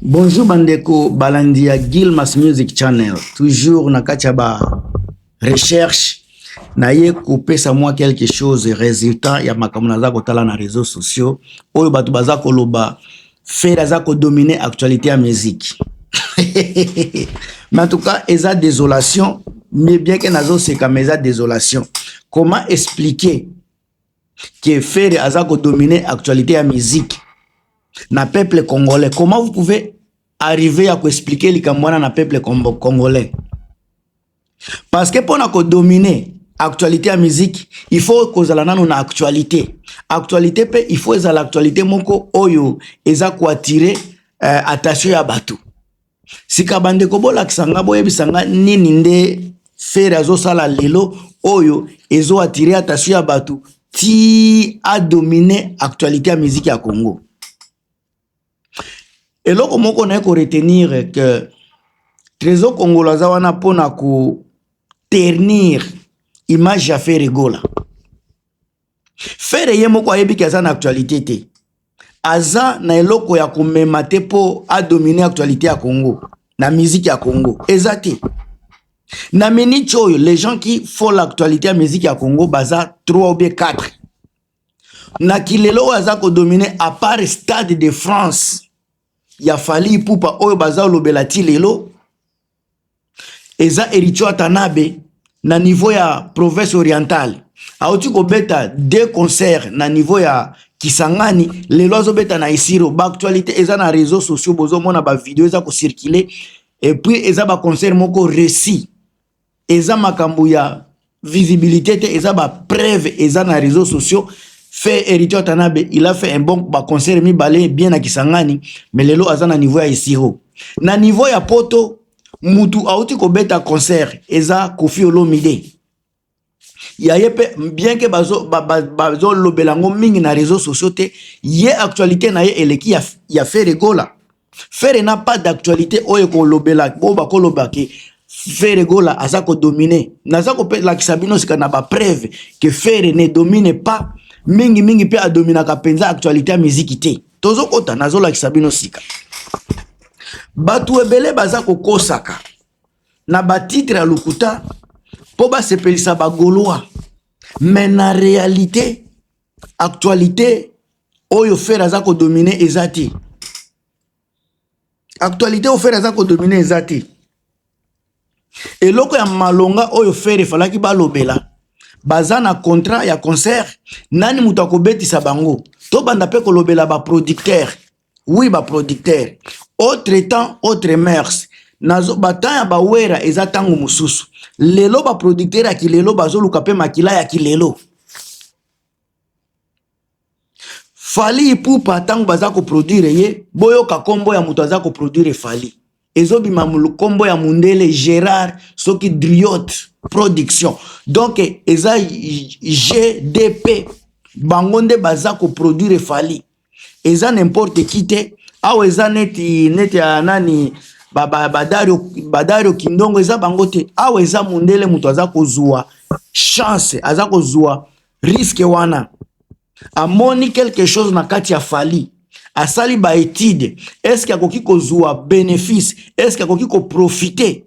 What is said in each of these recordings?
Bonjour bandeko balandi ya Gilmas Music Channel, toujours na kati ya ba recherche naye kopesa mwa quelque chose resultat ya makambo naza kotala na réseaux sociaux oyo bato baza koloba Ferre aza kodomine actualité ya musique mais en tout cas eza désolation mais bien que nazoseka mais eza désolation comment expliquer que Ferre aza ko dominer actualite ya musique na peuple congolais. Comment vous pouvez arriver ya ko expliquer likambo wana na peuple congolais? Parce que pona ko dominer actualité ya musique, il faut kozala nano na actualité. Actualité pe il faut ezala actualité moko oyo eza ko attirer euh, attention ya bato. sika bandeko bolakisa nga boyebisa nga nini nde fere azosala lelo oyo ezo attire attention ya bato ti adomine actualité ya miziki ya congo eloko moko naye koretenir ke trésor kongolo aza wana mpo na koternir image ya fere gola Ferre ye moko ayebi ke aza na actualité te. Aza na eloko ya komema te po a dominer actualité ya Congo na musique ya Congo. Eza te. Na minute oyo les gens qui font l'actualité ya musique ya Congo baza 3 ou bien 4. Na kilelo oyo aza ko dominer à part Stade de France ya Fally Ipupa oyo baza lobela ti lelo eza Ericho Atanabe na niveau ya province orientale auti kobeta deux concerts na niveau ya Kisangani lelo azobeta na Isiro ba actualité eza na réseaux sociaux bozomona ba video eza ko circuler et puis eza ba concert moko réussi eza makambo ya visibilité te eza ba preuve eza na réseaux sociaux fait héritier Watanabe il a fait un bon ba concert mibale bien na Kisangani mais lelo aza na niveau ya Isiro na niveau ya Poto mutu auti kobeta concert eza Koffi Olomide ya ye mpe bien ke bazolobela yango mingi na réseau sociaux te ye actualité na ye eleki ya, ya fere gola Ferre n'a pas d'actualité oyo ekolobela oyo bakoloba ke Ferre Gola aza kodomine. Naza kopelakisa bino sika na bapreuve ke Ferre ne domine pas mingi mingi mpe adominaka mpenza actualité ya miziki te. Tozokota nazolakisa bino sika. Bato ebele baza kokosaka na batitre ya lokuta mpo basepelisa bagolois mais na réalité actualité oyo fere aza kodomine eza te actualité oyo fere aza kodomine eza te eloko ya malonga oyo fere efalaki balobela baza na contrat ya concert nani moto akobetisa bango tobanda mpe kolobela baproducteur wi baproducteur autre temps autre mers nazo batemp ya bawera eza ntango mosusu lelo baproducteur ya kilelo bazoluka mpe makila ya kilelo fali ipupa ntango baza koproduire ye boyoka nkombo ya moto aza koproduire fali ezobima nkombo ya mundele gerard soki driot production donk eza gdp bango nde baza koproduire fali eza nimporte ki te awa eza neti neti ya nani badario ba, ba, ba kindongo eza bango te awa eza mundele moto aza kozwa chance aza kozwa risque wana amoni quelque chose na kati ya fali asali ba étude est-ce que akoki kozua bénéfice est-ce que akoki koprofite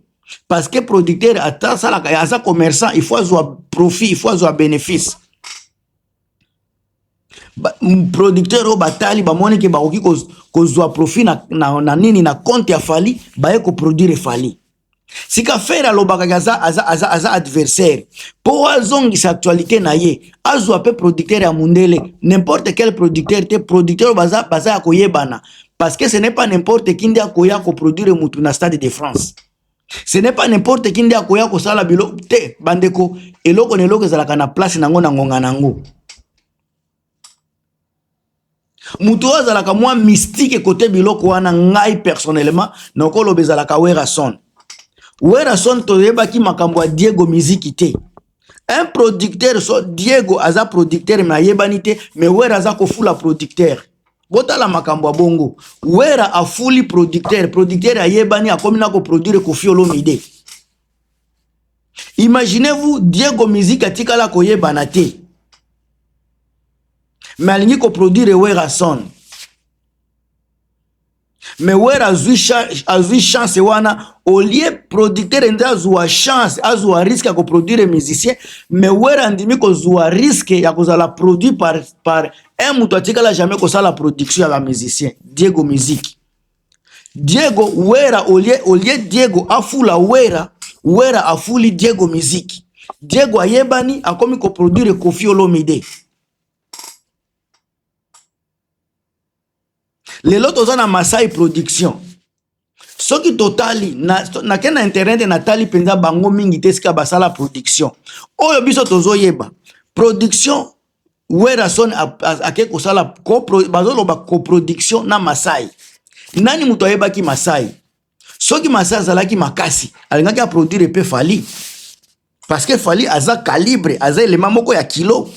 parce que producteur ata asalaka aza commerçant il faut azua profit il faut azua bénéfice producteur oyo batali bamoni ke bakoki kozwa profit na, na, na nini na compte ya fali baye koproduire fali sika fere alobaka ke aza, aza, aza, aza adversaire mpo azongisa actualité na ye azwa mpe producteur ya mundele n'importe quel producteur te producteur oyo baza, baza ya koyebana parce que ce n'est pas n'importe qui nde akoya koproduire mutu na stade de france ce n'est pas n'importe qui nde akoya kosala bilo te bandeko eloko na eloko ezalaka na place na yango na ngonga na yango moto oyo azalaka mwa mystique kote biloko wana ngai personnellement nakoloba ezalaka werason werason toyebaki makambo ya diego miziki te un producteur so diego aza producteur me ayebani te me wera aza kofula producteur botala makambo ya bongo wera afuli producteur producteur ayebani akomi na koproduire kofi olomide Imaginez-vous Diego Musique atikala koyebana te. Mais alingi ko produire Werrason. Mais Werra azui azui chance wana au lieu producteur nde azua chance azua risque ya ko produire musicien mais Werra andimi kozua risque ya kozala produit par par un moto atikala jamais kosala production ya ba musicien Diego Musique. Diego Wera olie olie Diego afula Wera Wera afuli Diego miziki Diego ayebani akomi ko produire Koffi Olomide lelo toza na Masai production soki totali nake na, na internet natali mpenza bango mingi te esika basala production oyo biso tozoyeba production Werrason ake kosala bazoloba coproduction na Masai. Nani moto ayebaki Masai? Soki Masai azalaki makasi, alingaki aproduire mpe Fally. Parce que Fally aza calibre, aza elema moko ya kilo.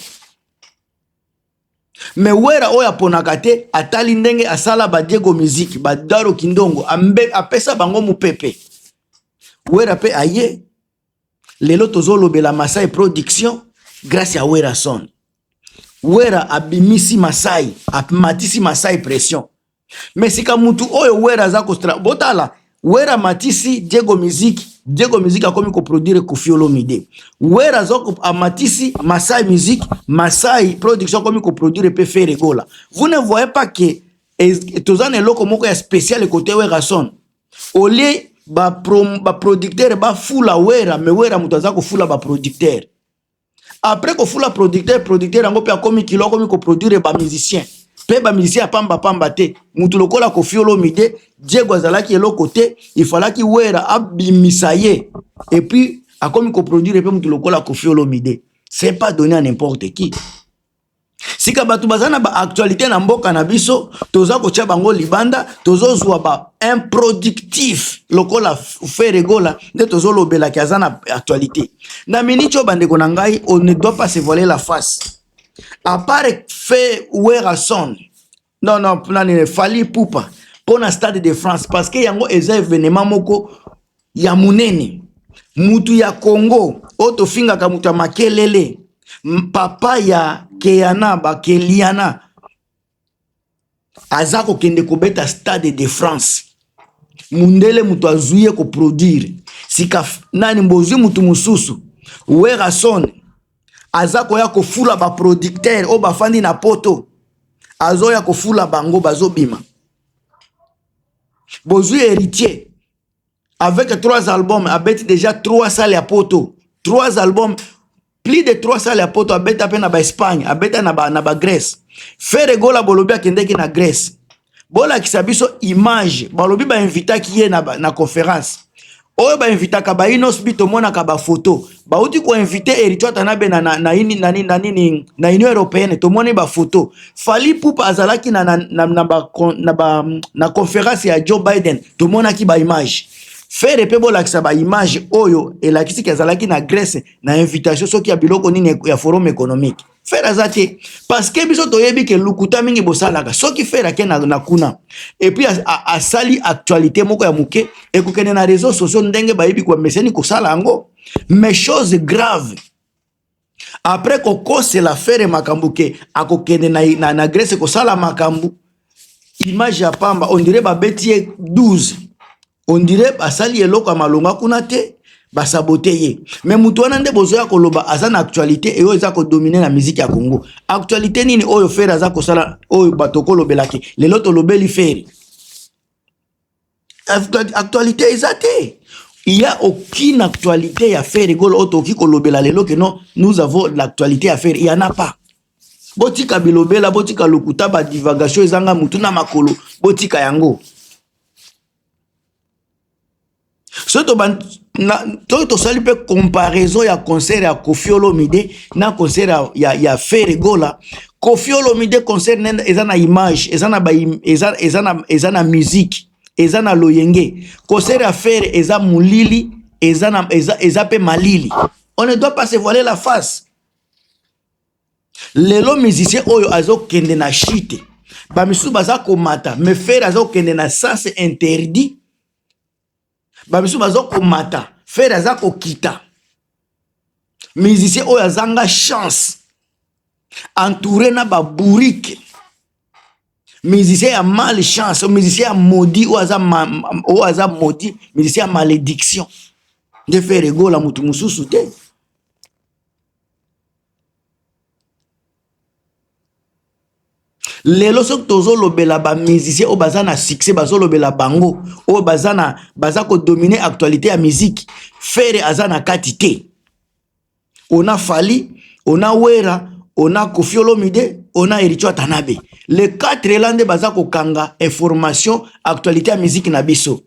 me wera oyo aponaka te atali ndenge asala badiego miziki badaro kindongo apesa bango mopepe wera mpe aye lelo tozolobela masai production grâce ya werason wera abimisi masai amatisi masai pression me sika mutu oyo wera aza kostra botala wera amatisi diego musique diego musique akomi koproduire kofiolomide wera amatisi masai musique masai production akomi koproduire mpe feregola vous ne voyez pas que toza na eloko moko ya spécial kote werason olie baproducteur ba bafula wera me wera moto aza kofula baproducteur apres kofula producteur producteur yango mpe akomi kilo akomi koproduire bamusicien mpe bamusicien ya pambapamba te motu lokola kofi olomide diego azalaki eloko te ifalaki wera abimisa ye epuis akomi koproduire mpe motu lokola kofi olomide c'est pas donné à n'importe qui sika bato baza na baactualité na mboka na biso toza kotya bango libanda tozozwa ba improductif lokola fere gola nde tozolobelaki aza na actualité na miniti oyo bandeko na ngai on ne doit pas se voiler la face apart fe werason Non non, nani Fally Poupa mpo na Stade de France parce que yango eza événement moko ya munene. Mutu ya Congo oyo tofingaka mutu ya makelele, papa ya Keana ba Keliana aza kokende kobeta Stade de France. Mundele mutu azwi ye koproduire sika nani bozwi mutu mosusu Werrason aza koya kofula baproducteur oyo bafandi na poto azoya kofula bango bazobima bozwi héritier avec trois albums abeti déjà trois sale ya poto trois albums plus de trois sale ya poto abeta mpe na baespagne abeta na bagrèce ba ferre gola bolobi akendeki na grèce bolakisa biso image balobi bainvitaki ye na, na conference oyo bainvitaka bainos bi tomonaka bafoto bauti koinvite eritio atanabe na, na, na, na, na, nini na union européenne tomoni bafoto fali pupa azalaki na, na, na, na, ba, na, ba, na conference ya joe biden tomonaki baimage fere mpe bolakisa baimage oyo elakisi ke azalaki na grèce na invitation soki ya biloko nini ya forum économique fere aza te parceke biso toyebi ke lokuta mingi bosalaka soki fere ake na, na kuna epuis asali actualité moko ya moke ekokende na réseau sociaux ndenge bayebi komeseni kosala yango mais chose grave après kokosela fere makambo ke akokende na, na, na grèce kosala makambo image ya pamba ondire babeti ye 12 on dirait basali eloko ya malonga kuna te basabote ye me moto wana nde bozoya koloba aza na actualité eyo eza kodomine na miziki ya congo actualité nini oyo fere aza kosala oyo bato kolobelaki lelo tolobeli fere actualité eza te il y a aucune actualité ya fere golo oyo tokoki kolobela lelo ke non nous avons l'actualité ya fere il y en a pas botika bilobela botika lokuta badivagation ezanga motu na makolo botika yango soki tosali mpe comparaison ya concert ya kofi olomide na concert ya, ya, ya fere gola kofi olomide concert nene eza na image eza na, ba, eza, eza na, eza na musique eza na loyenge concert ya fere eza molili eza, na, eza, eza mpe malili on ne doit pas se voiler la face lelo musicien oyo azokende na chute bamisusu baza komata me fere azokende na sens interdit bamisusu bazokomata fere aza kokita musicien oyo azanga chance entouré na babourike musicien ya mal chance musicien ya maudit oyo aza, ma, oyo aza maudit musicien ya malédiction nde fere egola motu mosusu te lelo soki tozolobela bamusicien oyo baza na succès bazolobela bango oyo baza na baza kodomine actualité ya miziki fere aza na kati te ona fali ona wera ona kofiolomide ona eritio atanabe le 4 ela nde baza kokanga information actualité ya miziki na biso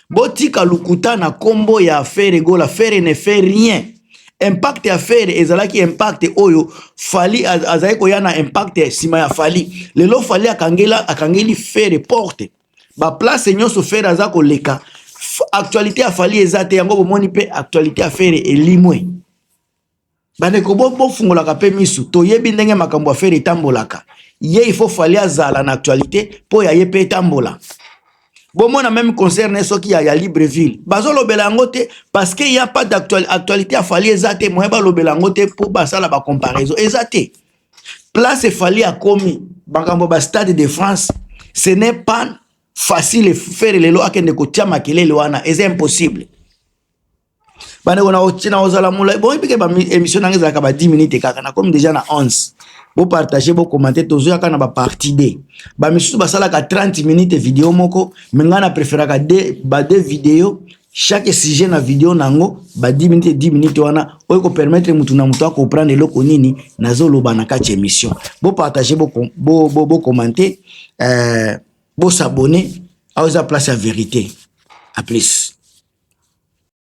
Botika lokuta na kombo ya Ferre Gola, Ferre ne fait rien. Impact ya Ferre ezalaki impact oyo Fally azali koya na impact ya sima ya Fally. Lelo Fally akangela akangeli Ferre porte. Ba place nyonso Ferre aza koleka. Actualité ya Fally eza te yango bomoni pe actualité ya Ferre elimwe. bandeko bo bofungolaka mpe misu toyebi ndenge makambo ya fere etambolaka ye il faut fali azala na actualité mpo ya ye mpe etambola bomona meme concert na ye soki ya, ya libreville bazolobela yango te parce que ya pas d'actualité ya fali eza te moye balobela yango te mpo basala bacomparaison eza te place fali akomi makambo ba stade de france ce n'est pas facile fere lelo akende kotia makelele wana eza impossible bandeko nakozala molai boyebi ke baémission nanga ezalaka ba 10 minute kaka nakomi deja na 11 bopartage bocommente tozoyaka na baparti de bamisusu basalaka 30 minute video moko me ngai na preferaka ba de video chaque sujet na video na yango ba 10 minute 10 minute wana oyo kopermettre motu na motu akomprendre eloko nini nazoloba na kati ya émission bopartage bocommente bo, bo, bo, bo euh, bosabone awa eza place ya verité a plus